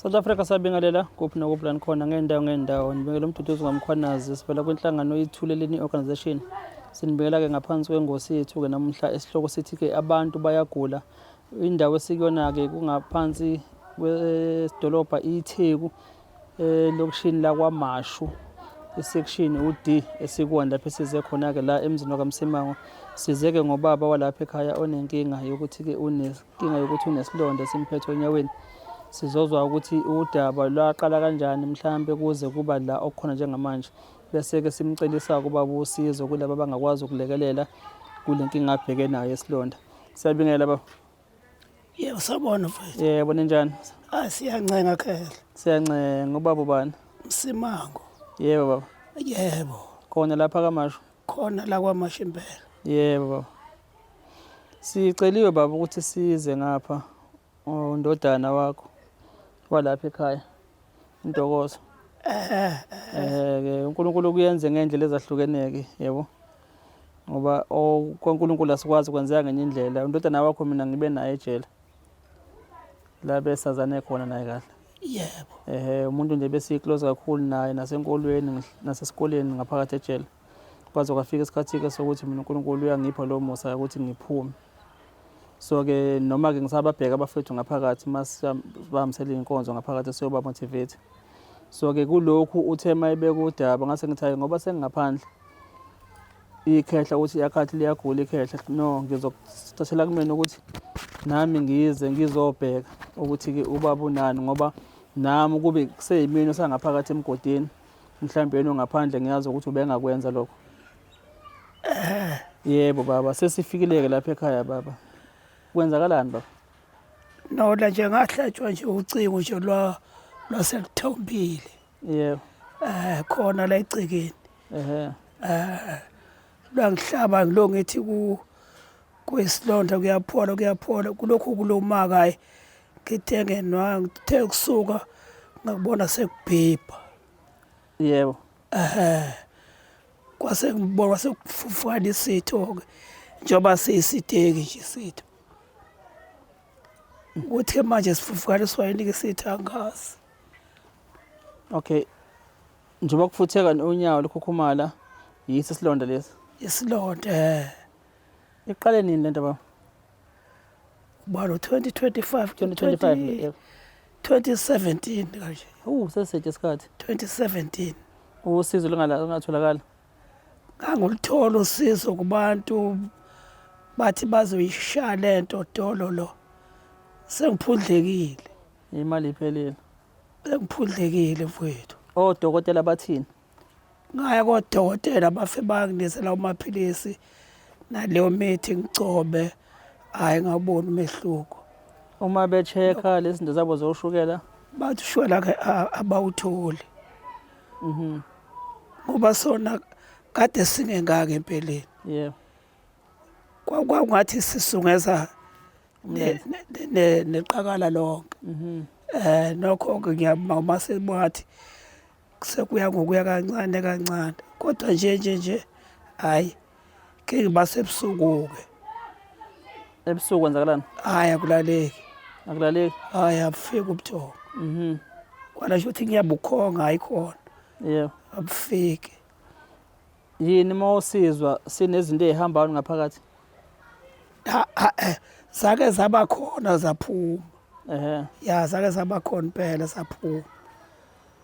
South Africa sabingelela kuphi nokuphi la nikhona ngey'ndawo ngey'ndawo nibingela umduduzi ngomkhwanazi sivela kwinhlangano ithuleleni organization sinibingela-ke ngaphansi kwengosi yethu-ke namuhla esihloko sithi-ke abantu bayagula indawo esikuyona-ke kungaphansi kwedolobha itheku elokishini lakwamashu isection u-d esikwona lapho esize khona-ke la emzini wakamsimango size-ke ngobaba walapha ekhaya onenkinga yokuthi-ke Inkinga yokuthi unesilonda esimphethe onyaweni sizozwa ukuthi udaba lwaqala kanjani mhlawumbe kuze kuba la okukhona njengamanje bese-ke simcelisa ukuba busizo kulaba abangakwazi ukulekelela kule nkinga abheke nayo esilonda siyabingela baba yebo sabona mfowethu yebo ninjani ah siyancenga khehla siyancenga ubaba ubani msimango yebo baba yebo khona lapha kamasho khona la kwamasho impela yebo baba Siceliwe baba ukuthi size ngapha undodana wakho walapha ekhaya intokozo eh, eh ke uNkulunkulu kuyenze ngendlela ezahlukeneke yebo ngoba kwaNkulunkulu asikwazi kwenzeka ngenye indlela undodana wakho mina ngibe naye ejele la besazane khona naye kahle yebo ehe umuntu nje besiyiclose kakhulu naye nasenkolweni nasesikoleni ngaphakathi ejele kwaze kwafika isikhathi-ke sokuthi mina uNkulunkulu uyangipha lowo musa ukuthi ngiphume so-ke noma-ke ngisababheka abafethu ngaphakathi uma sibahambisela iy'nkonzo ngaphakathi siyobamotivate so-ke kulokhu uthe uma ebeka udaba ngase ngithi hayi ngoba sengingaphandle ikhehla ukuthi yakhathi liyagula ikhehla no ngizokuthathela kumina ukuthi nami ngize ngizobheka ukuthi-ke ubaba unani ngoba nami kube kuseyimina osangaphakathi emgodini Mhlawumbe yena ongaphandle ngiyazi ukuthi ubengakwenza lokho. Yebo baba, sesifikile-ke lapha ekhaya baba. Kwenzakalani baba? Nola nje ngahlatshwa nje ucingo nje lwa lwaselithombile. Yebo. Eh khona la egcekeni. Ehhe. Eh Langihlaba ngilo ngithi ku kuyisilonda kuyaphola kuyaphola kulokhu kulomakayi ngithe ngenwa ngithe kusuka ngakubona sekubhibha yebo ehe kwase ngibona kwase kufufukana isitho ke njengoba siyisiteki nje isitho ukuthi manje sifufukana esiwayini ke sithi angazi okay Njengoba kufutheka unyawo likhukhumala yiso isilonda lesi. Isilonda eh. Iqale nini lento baba? Balo 2025 2025 2017 kanje. Uh sesithe isikhathi. 2017. Usizo lungatholakala. Ngangulithola usizo kubantu bathi bazoyishaya lento dololo. Sengiphundlekile. Imali iphelile. Bengiphundlekile mfowethu. Odokotela bathini? Ngaya kodokotela bafe banginisela umaphilisi naleyo mithi ngigcobe hhayi ngawuboni umehluko. Uma be-check-a lezi zinto zabo zoshukela? Bathi ushukela ke abawutholi. Mhm. Ngoba sona kade singengaki empeleni. Yebo. Kwakungathi sisungeza neqakala lonke mhm. eh nokho ke ngiyabonga uma sebathi sekuya ngokuya kancane kancane kodwa nje nje nje hayi ke ngibase ebusuku ke ebusuku kwenzakalani hayi akulaleki akulaleki hayi abufiki ubuthongo mhm kwana ukuthi ngiyabukhonga hayi khona yebo abufiki Yini uma usizwa sinezinto ezihambayo ngaphakathi? Ha- ha- eh, Zake zaba khona zaphuma. Ehhe. Ya zake zaba khona impela zaphuma.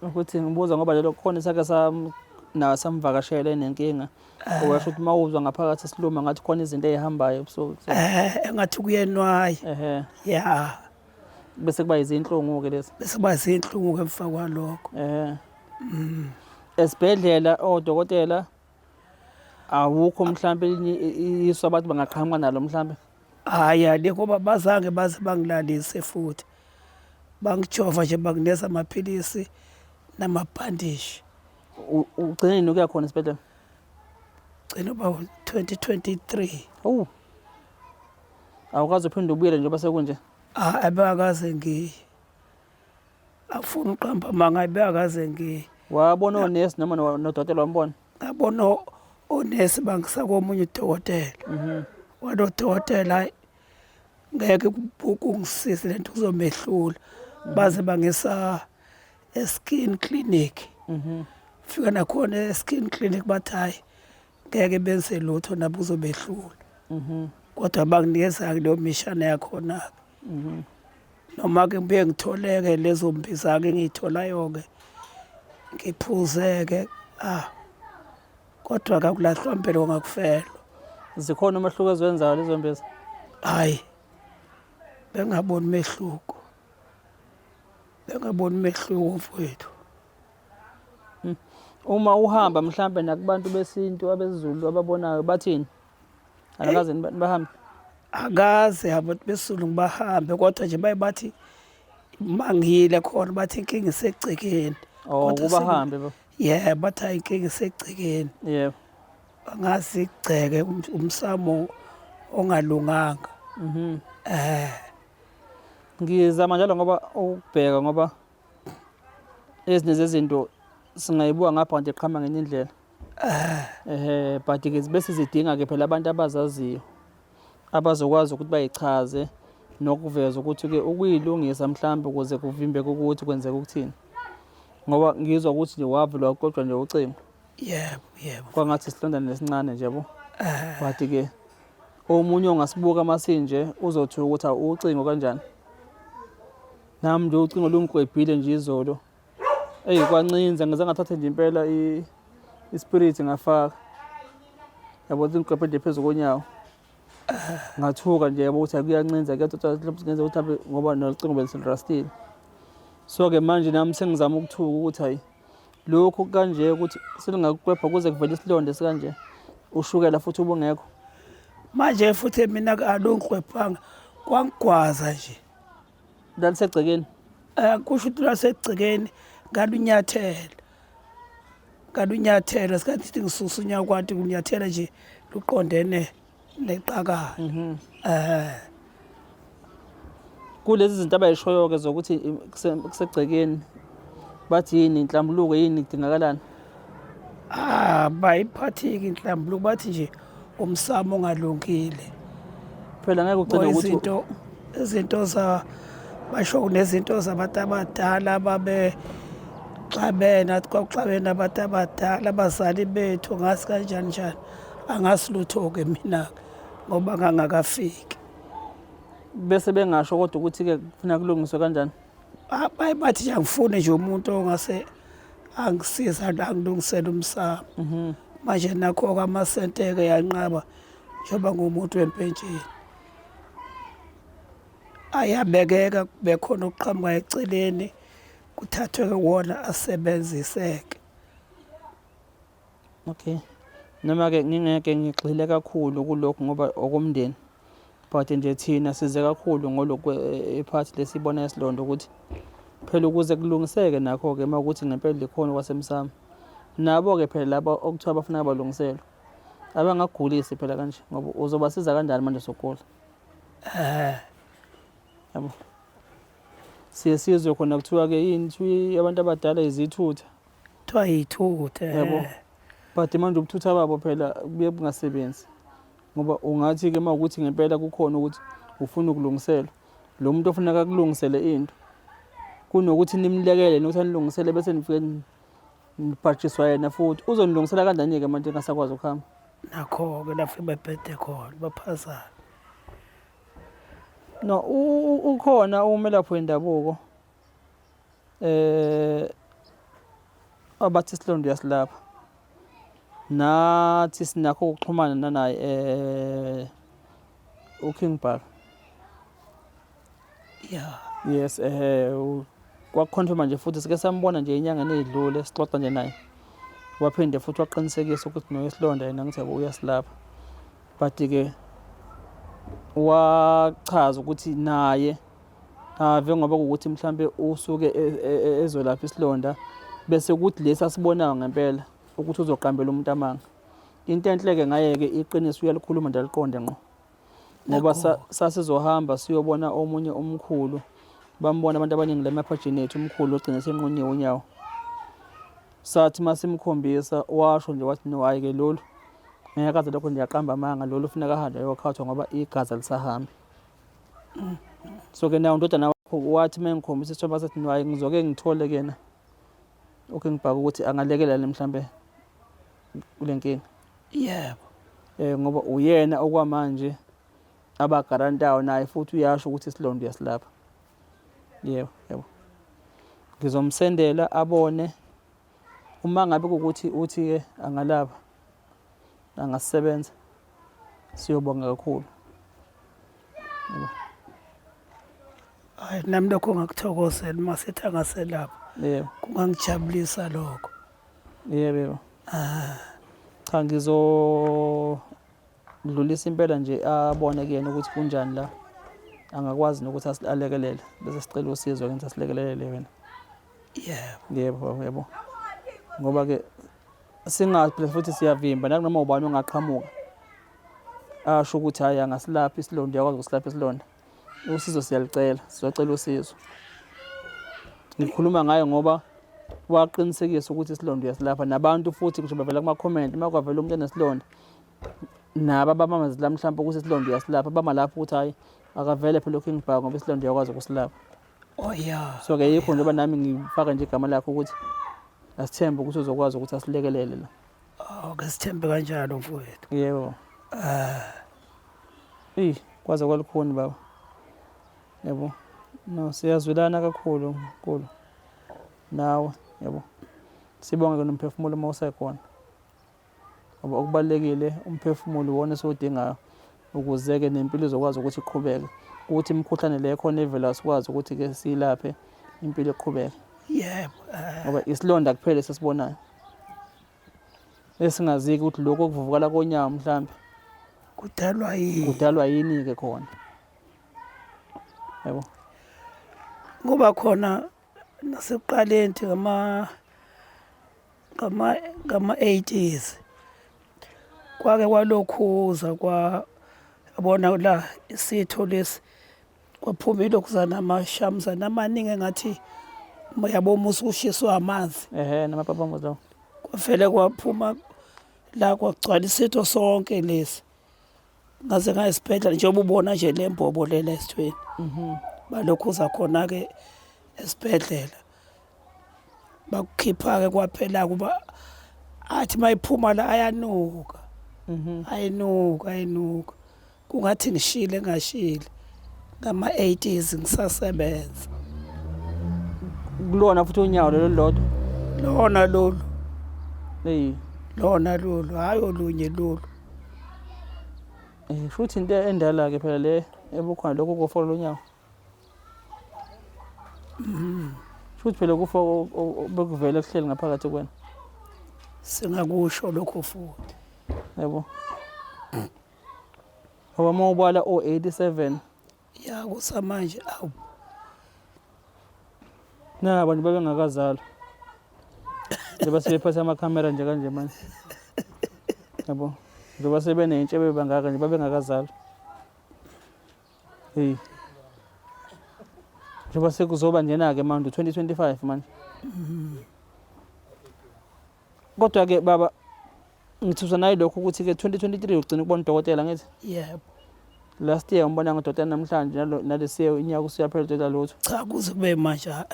Ukuthi ngibuza ngoba lelo khona sake sam nawe samvakashela enenkinga. Owasho ukuthi uma uzwa ngaphakathi siluma ngathi khona izinto ezihambayo ebusuku. Eh engathi kuyenwaye. Ehhe. Ya bese kuba izinhlungu ke lezi Bese kuba zinhlungu ke emva kwalokho. eh esibhedlela odokotela awukho mhlawumbe elinye iso abantu bangaqhamuka nalo mhlawumbe hhayi alikho uba bazange baze bangilalise futhi bangijova nje bangineza amaphilisi namabhandishi ugcine nini ukuya khona esibhedlela gcina uba 2023 owu awukazi uphinde ubuyele njengoba sekunje abekaze ngiye afuna uqamba amanga ayibe akaze ngi wabona onesi noma nodokotela wambona ngabona onesi bangisa komunye udokotela mhm. wadokotela ngeke kungisize lento kuzomehlula mhm. baze bangisa eskin clinic mhm. fika nakhona eskin clinic bathi hayi ngeke benze lutho nabo kuzobehlula kodwa banginikeza-ke leyo mishana yakhona-ke mhm. noma-ke ngibuye ngitholeke lezo mbiza-ke engiyitholayo-ke ngiphuzeke ah kodwa kakulahlwa mpilo ngakufelwa zikhona umehluko eziwenzayo lezo mbiza hhayi bengaboni umehluko bengaboni umehluko mfowethu hmm. uma uhamba mhlawumbe nakubantu besintu abezulu ababonayo bathini Anakaze nibahambe. Akaze hamba besulu ngibahambe kodwa nje baye bathi mangile khona bathi inkinga isegcekeni. Oh Kodwa kuba sing- hambe bo. Yeah, bathi hayi inkinga isegcekeni. Yebo. Angazi igceke um- umsamo ongalunganga. Mhm. Eh, Ngizama njalo ngoba ukubheka ngoba ezinye zezinto singayibuka ngapha nje qhama ngenye indlela. ehe but ke zibe sizidinga ke phela abantu abazaziyo abazokwazi ukuthi bayichaze nokuveza ukuthi ke ukuyilungisa mhlawumbe ukuze kuvimbeke ukuthi kwenzeka ukuthini ngoba ngizwa ukuthi nje wavulwa kodwa nje ucingo yebo yebo kwangathi isilondana nesincane nje bo but ke omunye ongasibuka masinje uzothi ukuthi ucingo kanjani nami nje ucingo lungikwebhile nje izolo Eyi kwancinza ngize ngathatha nje impela ispirit ngafaka yabo ukuthi ngiqephe nje phezu konyawo ngathuka nje yabo ukuthi akuyancinza kuyathothaengenza ukuthi hambe ngoba nolucingo beliselirastile so-ke manje nami sengizama ukuthuka ukuthi hayi lokhu kanje ukuthi selingakuqepha kuze kuvele isilonda esikanje ushukela futhi ubungekho manje futhi mina alongiqwephanga kwangigwaza nje Lalisegcekeni. Eh kusho ukuthi lasegcekeni kalunyathela. Kalunyathela sikathi sithi ngisusa unyawo kwathi kunyathela nje luqondene neqakala. Mhm. Eh kulezi zinto abayishoyo ke zokuthi i- kuse- kusegcekeni bathi yini inhlambuluko yini idingakalani Ah, bayiphatheki inhlambuluko bathi nje umsamo ongalungile. Phela ngeke ugcine ukuthi izinto izinto za basho kunezinto zabantu abadala babe xabena kwakuxabena abantu abadala abazali bethu ngasi kanjani njani angasi lutho-ke mina-ke ngoba ngangakafiki bese bengasho kodwa ukuthi-ke kufuna kulungiswe kanjani Baye bathi nje angifuni nje umuntu ongase angisiza angilungisele umsamo mhm. manje nakho-ke amasenteke yanqaba njengoba ngumuntu wempentsheni ayabekeka bekhona okuqhamuka eceleni kuthathwe wona asebenziseke Okay. Noma-ke ngingeke ngigxile kakhulu kulokhu ngoba okomndeni but nje thina size kakhulu ngolokhu iphathi eh, lesibona esilondo ukuthi phela ukuze kulungiseke nakho-ke uma ukuthi ngempela likhona kwasemsamo nabo-ke phela laba okuthiwa bafuna abalungiselwe abangagulisi phela kanje ngoba uzobasiza kanjani manje sokugula eh. yabo siye sizwe khona kuthiwa-ke yini abantu abadala izithutha kuthiwa yithutha yabo eh. but manje ubuthutha babo phela kuye bungasebenzi ngoba ungathi-ke uma ukuthi ngempela kukhona ukuthi ufuna ukulungiselwa lo muntu ofuneka akulungisele into kunokuthi nimlekele nokuthi anilungisele bese nifike nibhatshiswa yena futhi uzonilungisela kanjani-ke manje engasakwazi ukuhamba nakho-ke lapho bebhede khona baphazana no ukhona umelaphi wendabuko Eh abathi isilonda uyasilapha. Nathi sinakho ukuxhumana nanaye eh uKing Bar. Yeah. Yes eh kwakuconfirma nje futhi sike sambona nje enyangeni edlule sixoxa nje naye. Waphinde futhi waqinisekisa ukuthi no isilonda yena ngithe uyasilapha. But ke wachaza ukuthi naye Ave ngoba ukuthi mhlambe usuke e, e, e, ezolapha isilonda bese kuthi lesi asibonayo ngempela ukuthi uzoqambela umuntu amanga. Into enhleke ngayeke iqiniso uyalikhuluma nje aliqonde ngqo. Ngoba sasizohamba siyobona omunye umkhulu bambona abantu abaningi lemaphajini ethu umkhulu ogcine senqunyiwe unyawo. Sathi masimkhombisa washo nje wathi no hayi ke lolu ngeke aze lokho nje aqamba amanga lolu ufuneka ahambe ayokhathwa ngoba igazi alisahambi. so ke naye undodana wakho wathi uma ngikhombisa isithombe asethi nwaye ngizoke ngithole kena okay ngibhaka ukuthi angalekelani mhlambe kule nkinga yebo eh ngoba uyena okwamanje abagarantayo naye futhi uyasho ukuthi isilondo uyasilapha yebo yebo ngizomsendela abone uma ngabe ukuthi uthi ke angalaba angasebenza siyobonga kakhulu hayi nami lokho ngakuthokozela uma sethi angaselapha yebo kungangijabulisa lokho yebo yebo ah. cha ngizodlulisa impela nje abone kuyena ukuthi kunjani la angakwazi nokuthi asilekelele bese sicela usizo kenza silekelele wena yebo yebo yebo ngoba ke singaphila futhi siyavimba nakunoma ubani ongaqhamuka asho ukuthi hhayi angasilaphi isilonda uyakwazi ukusilapha isilonda usizo siyalicela sizocela usizo ngikhuluma ngayo ngoba waqinisekisa ukuthi isilonda uyasilapha nabantu futhi ngisho bavela kumakhomenti uma kwavela umuntu enesilonda nabo abamamezela mhlawumpe ukuthi isilonda uyasilapha bama lapho ukuthi hhayi akavele phela ukingibhaka ngoba isilonda uyakwazi ukusilapha Oh yeah. So ke yikho njengoba nami ngifaka nje igama lakho ukuthi asithembe ukuthi uzokwazi ukuthi asilekelele la. Oh, ke sithembe kanjalo mfowethu. Yebo. Ah. Eh, kwaze kwalukhuni baba. Yebo. No, siyazwelana kakhulu nkulu. Nawe, yebo. Sibonge ke nomphefumulo uma usekhona. ngoba okubalulekile umphefumulo iwona esiwudingayo ukuze-ke nempilo izokwazi ukuthi iqhubeke ukuthi imikhuhlane le khona evela sikwazi ukuthi-ke siyilaphe impilo iqhubeke yebo eh. ngoba isilonda kuphela esisibonayo esingaziki ukuthi lokhu okuvuvukala konyawo mhlawumbe kudalwa yini kudalwa yini-ke khona yebo kuba khona nasekuqaleni nje ngama-80s kwake kwalokhuza kwabona la isitho lesi kwaphuma ilokhuzana amashamuzana amaningi engathi yabo umusi ushiswa amanzi ehe namapapambo lawo kwavele kwaphuma la kwagcwala isitho sonke lesi ngaze ngaya esibhedlela njengoba ubona nje le mbobo lela esithweni mhm. balokhuza khona-ke esibhedlela bakukhipha-ke kwaphela kuba athi uma iphuma la ayanuka mhm. ayinuka ayinuka kungathi ngishile ngashile ngama-80s ngisasebenza kulona futhi unyawo lelo lodwa lona lolu eyi lona lolu hhayi olunye lolu Eh, futhi into endala ke phela le ebukhona lokho kofola lonyawo futhi phela kufa o- o- o- bekuvele kuhleli ngaphakathi kwena singakusho lokho futhi yabo ngoba uma ubala o-87 ya kusamanje awu na abantu babengakazalwa njengoba sebephatha amakhamera nje kanje manje yabo njengoba sebenentshe bebangaka nje babengakazalwa hey njengoba sekuzoba njena-ke manje 2025 manje mm -hmm. Kodwa-ke baba ngithuswa naye lokho ukuthi-ke 2023 ugcina ukubona udokotela ngithi yebo last year umbona ngodokotela namhlanje nalo- nalesi year unyaka usuyaphela udokotela lutho cha kuze kube manje ha-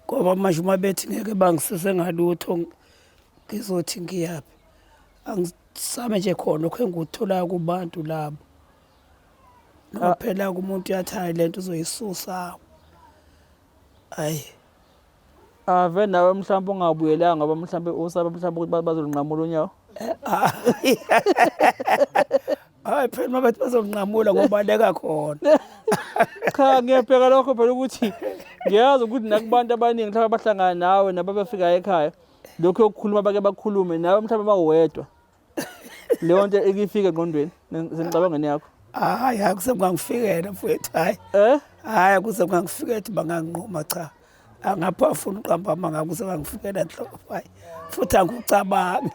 ngoba manje uma bethi ngeke bangisize ngalutho ng- ngizothi ngiyaphi angisame nje khona okho engikutholayo kubantu labo noma Ah. phela kumuntu uyathi hayi le nto uzoyisusa Ayi. Ave nawe mhlawumbe ungabuyelanga ngoba mhlawumbe usaba mhlawumbe ukuthi bazolunqamula unyawo. Eh, ah. Hayi phela uma bethi bazonqamula ngobaleka khona. Cha ngiyabheka lokho phela ukuthi ngiyazi ukuthi nakubantu abaningi mhlawumbe abahlangana nawe nababefika ekhaya lokho yokukhuluma bake bakhulume nawe mhlawumbe bawedwa. leyo nto ikifike engqondweni sengicabangeni yakho hayi hayi kuse kungangifikela mfowethu hayi eh hayi kuse kungangifikela ukuthi banganginquma cha angapha afuna uqamba ama ngakuse kangifikela nhlobo hayi futhi angikucabangi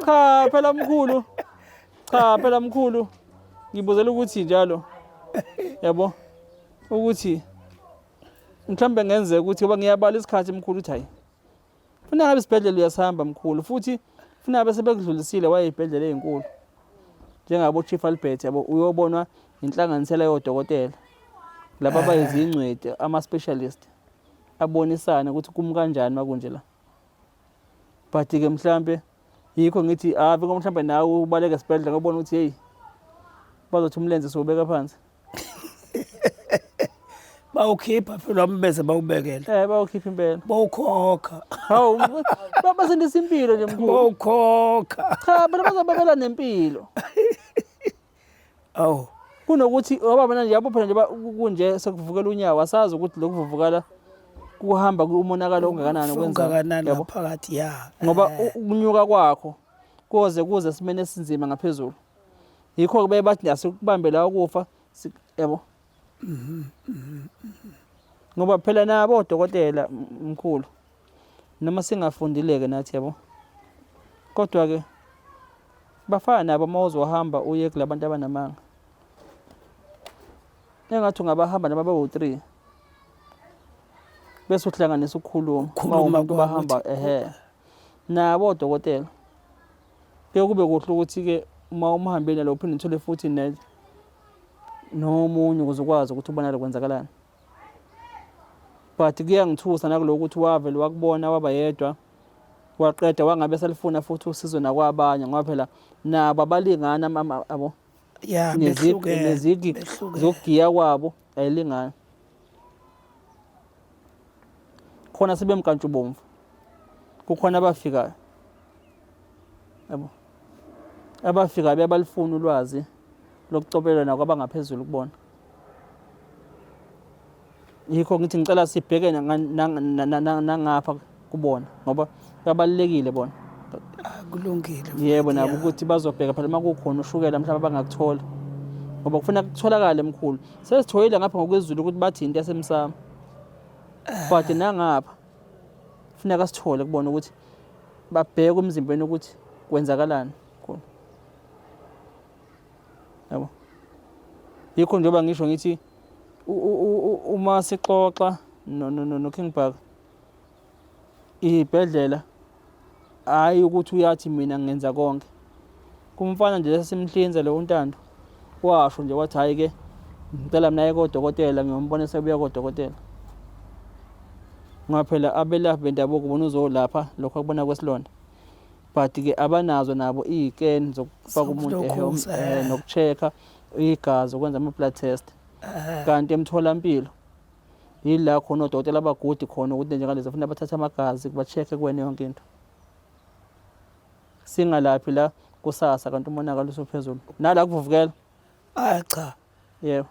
cha phela mkhulu cha phela mkhulu ngibuzela ukuthi njalo yabo ukuthi mhlawumbe ngenzeka ukuthi ngoba ngiyabala isikhathi mkhulu uthi hayi funa ngabe isibhedlela uyasihamba mkhulu futhi funa ngabe sebekudlulisile waye ey'bhedlela ey'nkulu njengabo chief albert yabo uyobonwa yinhlanganisela yodokotela laba eh. bayizingcweti ama-specialist abonisane ukuthi kumi kanjani makunje la but-ke mhlampe yikho ngithi ave ah, mhlawumbe nawe ubaleke esibhedlela ngobona ukuthi heyi bazothi umlenze siwubeka phansi bawukhipha phela umbese bawubekele Eh bawukhipha impela. bawukhokha Hawu ba- basindisa impilo nje mkhulu. bawukhokha Cha bona bazobabela nempilo. awu Kunokuthi ngoba mina nje yabo phela nje ba- ku- kunje sekuvukela unyawo asazi ukuthi lokuvuvukala kuhamba kumonakalo ongakanani kwenza. ungakanani Yabo? ngaphakathi ya Ngoba Eh, u- ukunyuka kwakho koze kuze simene esinzima ngaphezulu. yikho-ke baye bathi nje asikubambe la ukufa yabo ngoba phela nabo odokotela mkhulu noma singafundile-ke nathi yabo kodwa-ke bafana nabo uma uzohamba uye kula bantu abanamanga engathi ungabahamba noma bawu-three bese uhlanganisa ukukhuluma uma umuntu bahamba ehe nabo odokotela Kuye kube kuhle ukuthi-ke uma umhambeli nalo uphinde uthole futhi nomunye ukuze ukwazi ukuthi ubonakale kwenzakalani but kuyangithusa nakuloko ukuthi wavele wakubona waba yedwa waqeda wangabe selifuna futhi usizo nakwabanye ngoba phela nabo abalingani abo nezigi zokugiya kwabo ayilingani khona sebemkantshubomvu kukhona abafikayo yabo abafikayo bebalifuna ulwazi lokucobelelana kwabangaphezulu kubona yikho ngithi ngicela sibheke nangapha kubona ngoba kubalulekile bona kulungile yebo nabo ukuthi bazobheka phela uma kukhona ushukela mhlawumbe abangakuthola ngoba kufuna kutholakale mkhulu sesithoyile ngapha ngokwezulu ukuthi bathi into yasemsamo eh. but nangapha kufuneka sithole kubona ukuthi babheke umzimbeni ukuthi kwenzakalani khona yabo yikho njengoba ngisho ngithi uma sixoxa no no no King Bhaka Ibhedlela hhayi ukuthi uyathi mina ngenza konke. Kumfana nje esasimhlinza lo uNtando washo nje wathi hhayi-ke ngicela mina aye kodokotela ngiyombona sebuya kodokotela ngoba phela abelaphi bendabuko bona uzolapha lokho akubona kwesilonda but-ke abanazo nabo iyiken zokufaka umuntu eh, noku-check-a igazi ukwenza ama-blood test kanti emtholampilo yila khona odokotela abagudi khona ukuthi njengalezi afuna bathathe amagazi bachekhe kuwena yonke into singalaphi la kusasa kanti umonakalo usuphezulu nala kuvuvukela hayi cha yebo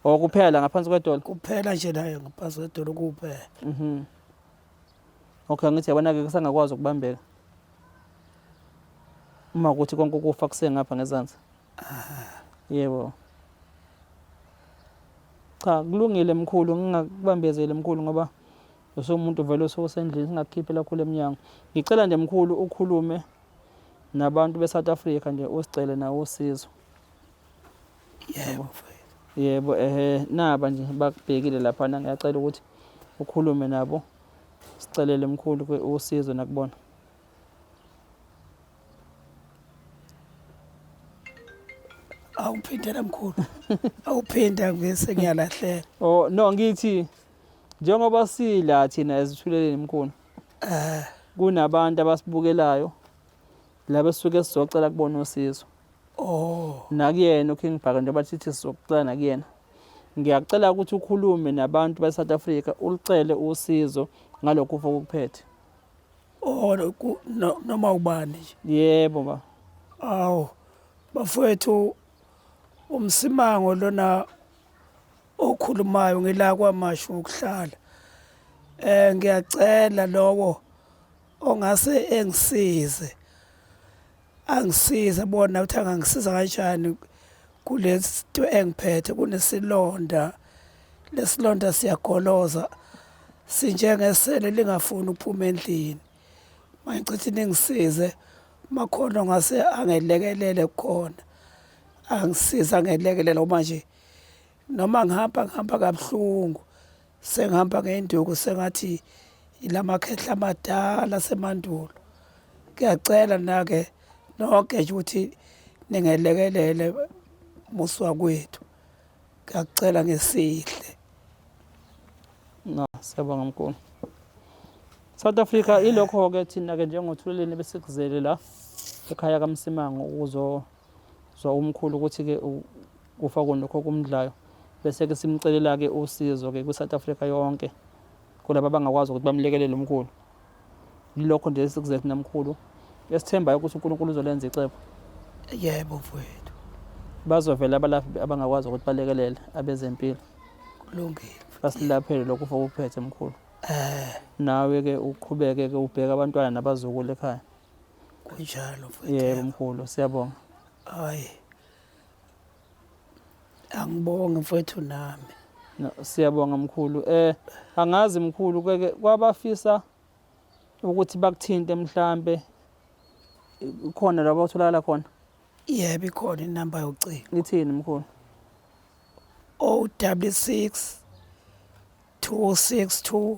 or kuphela ngaphansi kwedolo kuphela nje nayo ngaphansi kwedolo kuphela mhm okay ngithi yabona-ke kusangakwazi ukubambeka uma kuthi konke ukufa kusengapha ngezansi Yebo. Cha kulungile mkhulu ngingakubambezeli mkhulu ngoba usumuntu vele ososendlini singakukhiphe lakhulu emnyango. Ngicela nje mkhulu ukhulume nabantu beSouth Africa nje usicele nawo usizo. Yebo. Yebo ehe naba nje bakubhekile lapha ngiyacela ukuthi ukhulume nabo sicelele mkhulu usizo nakubona. awuphinde namkhulu awuphinde angivese ngiyalahleka oh no ngithi njengoba sila thina ezithuleleni mkhulu eh kunabantu abasibukelayo laba suke sizocela kubona usizo oh nakuyena uking bhaka njengoba sithi sizocela nakuyena ngiyacela ukuthi ukhulume nabantu baseSouth Africa ulicele usizo ngalokho ufokuphethe or ku- no- noma ubani nje yebo ba awu bafowethu umsimango lona okhulumayo ngila kwamashu ngokuhlala eh ngiyacela lowo ongase engisize Angisize bona ukuthi angangisiza kanjani kulento engiphethe kunesilonda lesilonda siyagoloza sinjengesele lingafuni ukuphuma endlini mangichithi ningisize makhona ngase angelekelele khona angisiza ngelekelele uma nje noma ngihamba ngihamba kabuhlungu sengihamba ngey'nduku sengathi ila makhehla amadala asemandulo ngiyacela nake nonke nje ukuthi ningelekelele musi wakwethu ngiyacela ngesihle no siyabonga mkhulu South Africa ilokho-ke thina-ke njengothuleleni besikuzele la ekhaya kamsimango ukuzo Zwa umkhulu ukuthi-ke kufa kunokho okumdlayo bese-ke simcelela-ke usizo-ke kwi-south africa yonke kulaba abangakwazi ukuthi bamlekelele umkhulu yilokho nje esikuze thina mkhulu esithembayo ukuthi unkulunkulu uzolenza icebo yebo mfowethu bazovela abalaphi abangakwazi ukuthi balekelele abezempilo kulungile basilaphele lokhu ufa ukuphethe mkhulu um nawe-ke uqhubeke-ke ubheke abantwana nabazukulu ekhaya kunjalo mfowethu yebo mkhulu siyabonga hayi angibonge mfowethu nami no, siyabonga mkhulu eh angazi mkhulu keke kwabafisa ukuthi bakuthinte mhlambe khona labo utholakala khona yebo ikhona inamba yocingo ithini mkhulu 066 262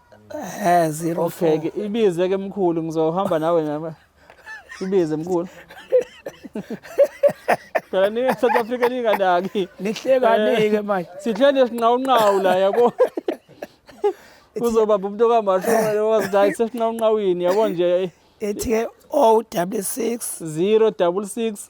Eh 04. Okay ke ibize ke mkhulu ngizohamba nawe nami. Ibize mkhulu. Phela ni South Africa ninganaki. Nihlekani ke eh, manje. Sihlele sinqawunqawu la yabo. Kuzoba umuntu kaMasholo wazi hayi sesinqawunqawini yabo nje. Ethi ke 066 066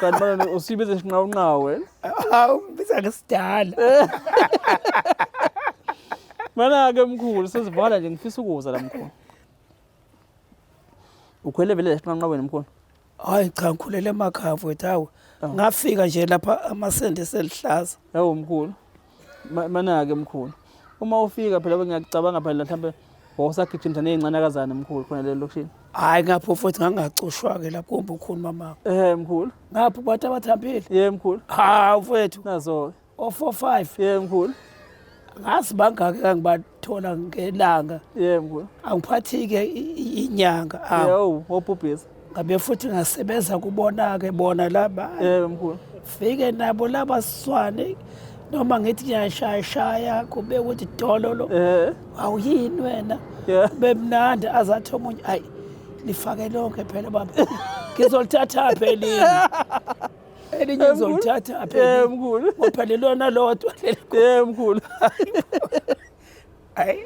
Kanti manje usibiza isinqawunqawu wena. Hawu ngibiza ngesidala. Mana ke mkhulu sesivala nje ngifisa ukuza la mkhulu. Ukhwele vele lesinqanqa wena mkhulu. Hayi cha ngikhulele emakhaya mfowethu hawu. Ngafika nje lapha amasende selihlaza. Hawu mkhulu. Manake mkhulu. Uma ufika phela bengiyakucabanga phela mhlambe wawusagijimisa nezincanakazana mkhulu khona le lokushini. Hayi ngapho futhi ngangacushwa ke lapho kumbe ukhulu mama. Eh mkhulu. Ngapho bathi abathambile. Yebo mkhulu. Ha mfethu. Nazo. O 45. Yebo mkhulu. Ngazi bangaki kangibantu. thola ngelanga yebo angiphathike inyanga awu wobhubhisa ngabe futhi ngasebenza kubona ke bona laba yebo mkhulu fike nabo laba swane noma ngithi ngiyashaya shaya kube ukuthi dololo eh awuyini wena bemnandi azathi omunye ayi lifake lonke phela baba ngizolithatha phelile elinye ngizolithatha aphe mkhulu kodwa lelona lodwa lelo mkhulu hayi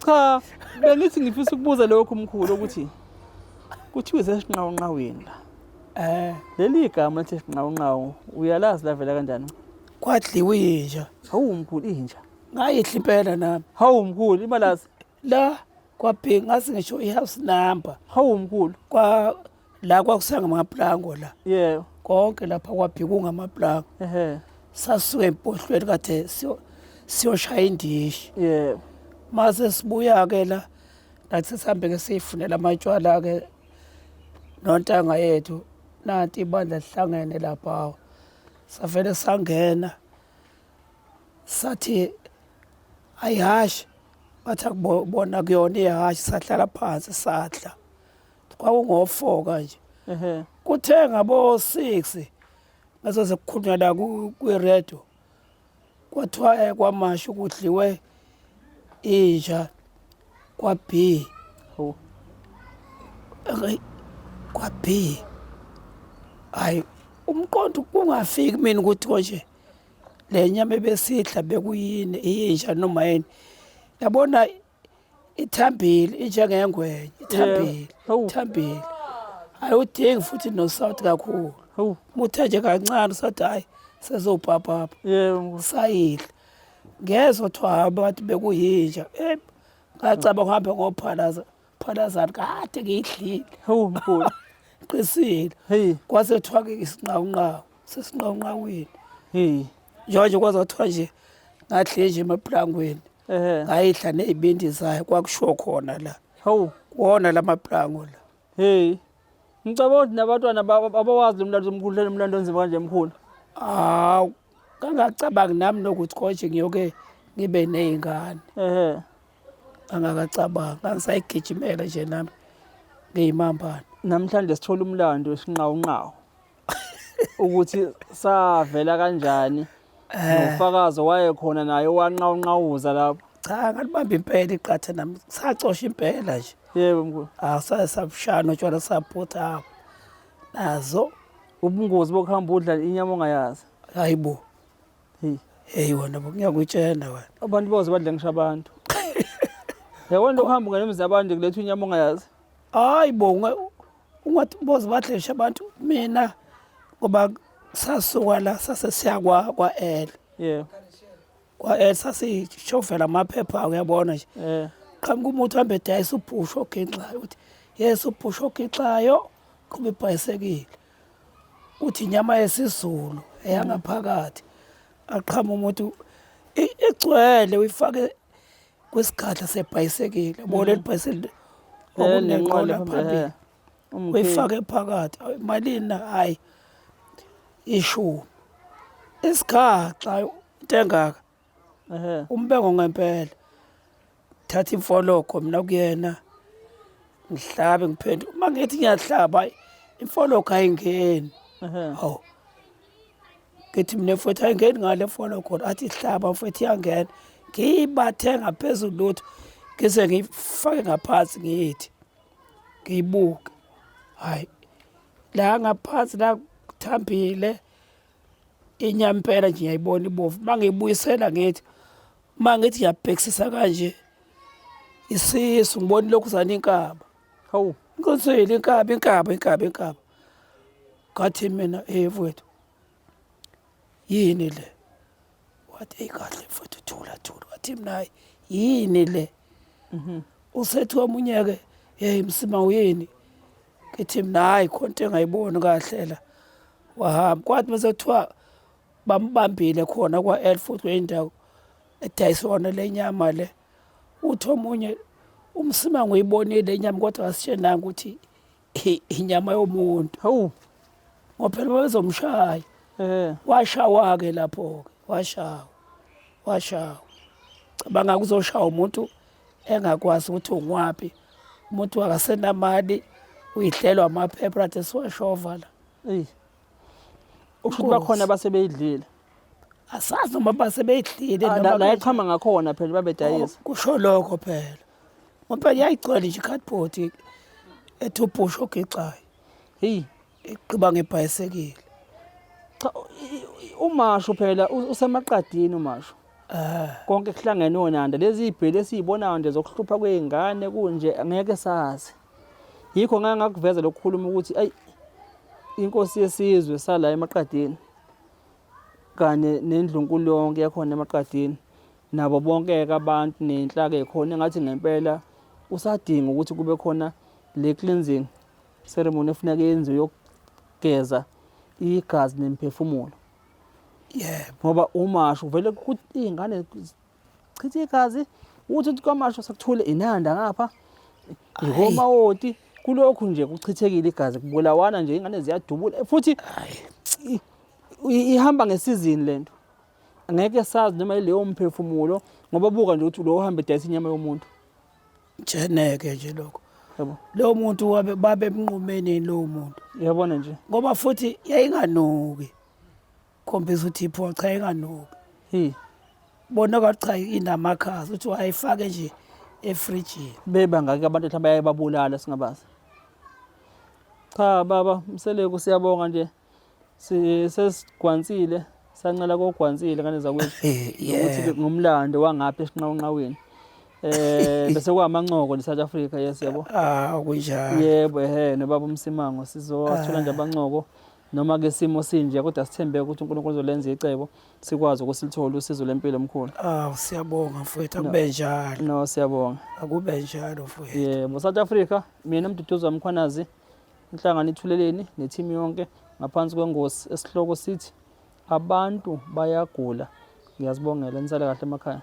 cha bengithi ngifisa ukubuza lokho mkhulu ukuthi kuthiwa izesinqawunqaweni la eh leli igama lithi sinqawunqawu uyalazi lavela kanjani kwadliwa inja hawu mkhulu inja ngayihla impela nami hawu mkhulu imalazi la kwabheki ngazi ngisho i-house number hawu mkhulu kwa la kwakusanga amaplango la yebo konke lapha kwabheki kungamaplango ehe sasuke empohlweni kade siyo- siyoshaya indishi yebo mase sibuya-ke la nathi sihambe-ke siyifunela amatshwala-ke nontanga yethu nanti ibandla lihlangene laphawo savele sangena sathi ayihashe bathi akubona kuyona ihashe sahlala phansi sadla kwakungo-four kanje kuthe ngabo-six ngaso sekukhulunywa la kwiredo kwathiwa eh, kwamasho kudliwe inja kwa-b kwa-b hhayi umqondo kungafiki mina ukuthi konje le nyama ebesidla bekuyini iyinja noma yini yabona ithambile injengengwenye ithambile ithambile ayiwudingi futhi nosawuthi kakhulu muthe nje kancane usathi hhayi sezobhabhabha sayidla ngezwa kuthiwa hamba bathi bekuyinja ngacaba kuhambe ngophalaza Phalazana kade ngiyidlile. Hawu mkhulu. Qisile. Hey. Kwase kuthiwa ke isinqawunqawu. Sesinqawunqawini. Hey. Njengoba nje kwaze kwathiwa nje ngadle nje emaplangweni. Ehhe. Ngayidla nezibindi zayo kwakushiwo khona la. Hawu. Kuwona lamaplango la. Hey. Ngicabanga ukuthi nabantwana ba- abawazi lo mlando omkhulu lo mlando onzima kanje mkhulu. Hawu. Kangacabangi nami nokuthi konje ngiyoke ngibe nezingane. Ehhe. angakacabangi angisayigijimela nje nami ngiyimambane namhlanje sithola umlando wesinqawunqawu ukuthi savela kanjani eh. nofakazi waye khona naye wanqawunqawuza lapho cha ngalibamba impela iqatha nami sacosha impela nje yebo mkhulu asaye sabushana utshwala saphutha apho nazo ubungozi bokuhamba udla inyama ongayazi hayibo Hey. Hey wena ngiyakutshena wena. Abantu boze badle ngisho abantu. Yawona uhamba ngenemzi abantu kuletha inyama ongayazi. Hayi bo ungathi boze badle ngisho abantu mina ngoba sasuka la sase siya kwa kwa L. Yeah. Kwa L sase shofela amaphepha uyabona nje. Yeah. Qhamuka umuntu hambe dayisa ubhusho ogenxayo uthi yes ubhusho ogenxayo kuba ibhayisekile. uthi inyama yesizulu eyangaphakathi aqhama umuntu i- igcwele uyifake kwisigadla sebhayisekile bo leli bhayisekile okunenqola Eh, phambili eh, umkhulu. uyifake phakathi Awu, malini na hayi ishumi isigaxa into engaka umbengo ngempela thatha imfologo mina kuyena ngihlabe ngiphenduke uma ngithi ngiyahlaba imfologo ayingeni hawu ngithi mina mfowethu ayingeni ngale mfologo athi hlaba mfowethu iyangena ngiyibathe ngaphezulu lutho ngize ngiyifake ngaphansi ngiyithi ngiyibuke hhayi la ngaphansi la kuthambile inyampela nje ngiyayibona ibovu uma ngiyibuyisela ngithi uma ngithi ngiyabhekisisa kanje isisu ngibona lokhu zana inkaba hawu ngiqinisile inkaba inkaba inkaba inkaba ngathi mina eyevu wethu yini le wathi eyi kahle mfowethu thula thula wathi mina hayi yini le mhm. usethi omunye-ke yeyi msima uyini ngithi mina hayi khona into engayiboni kahle la wahamba kwathi mase kuthiwa bambambile khona kwa-l futhi kweyindawo edayisona le nyama le uthi omunye umsima nguyibonile inyama kodwa asitshenanga ukuthi I- inyama yomuntu Hawu. ngoba phela babezomshaya Eh. washawa-ke lapho-ke washawa washawa cabanga kuzoshawa umuntu engakwazi ukuthi ungwaphi umuntu akasenamali uyihlelwa amaphepha athi siwashova la Ey. Ukusho ukuthi bakhona abasebeyidlile. asazi noma base beyidlile Ah, noma la- La beyidlile. yachama ngakhona phela babedayisa. kusho lokho phela ngoba yayigcwele nje i-cardboard ethi ubhusha ogixayo heyi egqiba ngebhayisekile cha umasho phela usemaqadini umasho eh. konke kuhlangene onanda lezi ibheli esiyibonayo nje zokuhlupha kweingane kunje ngeke sazi yikho ngeke ngakuveza lokukhuluma ukuthi ayi inkosi yesizwe sala emaqadini kanye nendlunkulu yonke yakhona emaqadini nabo bonke-ke abantu nenhlaka ekhona engathi ngempela kusadinga ukuthi kube khona le cleansing ceremony efuneka yenziwe yokugeza igazi nemphefumulo yebo ngoba umasho vele iy'ngane chitha igazi uthi uthi kwamasho sekuthule inanda ngapha ikomawoti kulokhu nje kuchithekile igazi kubulawana nje ingane ziyadubula futhi ihamba ngesizini lento Ngeke sazi noma yileyo mphefumulo ngoba buka nje ukuthi lo ohamba edayisa inyama yomuntu. Jeneke nje lokho. Yebo. Lo muntu wabe babe emnqumeni lo muntu. Yabona nje. Ngoba futhi yayinganuki. Khombisa ukuthi ipho cha inganuki. Hi. Bona kwathi cha inamakhaza uthi wayifake nje efrijini. Beba ngake abantu ehlamba yayibabulala singabazi. Cha baba Mseleku siyabonga nje. sesigwansile sancela kogwansile ngane zakwethu ukuthi ngumlando wangapha esinqawunqaweni eh bese kwamanqoko ne South Africa yes yebo ah kunjalo yebo ehe ne baba umsimango sizothola nje ah. abanqoko noma ke simo sinje kodwa sithembe ukuthi uNkulunkulu uzolenza icebo sikwazi ukusilithola usizo lempilo omkhulu ah siyabonga mfowethu akube njalo no siyabonga akube njalo mfowethu yebo South Africa mina mduduzo wamkhwanazi Inhlangano ithuleleni nethimu yonke ngaphansi kwengosi esihloko sithi abantu bayagula. Ngiyazibongela nisale kahle emakhaya.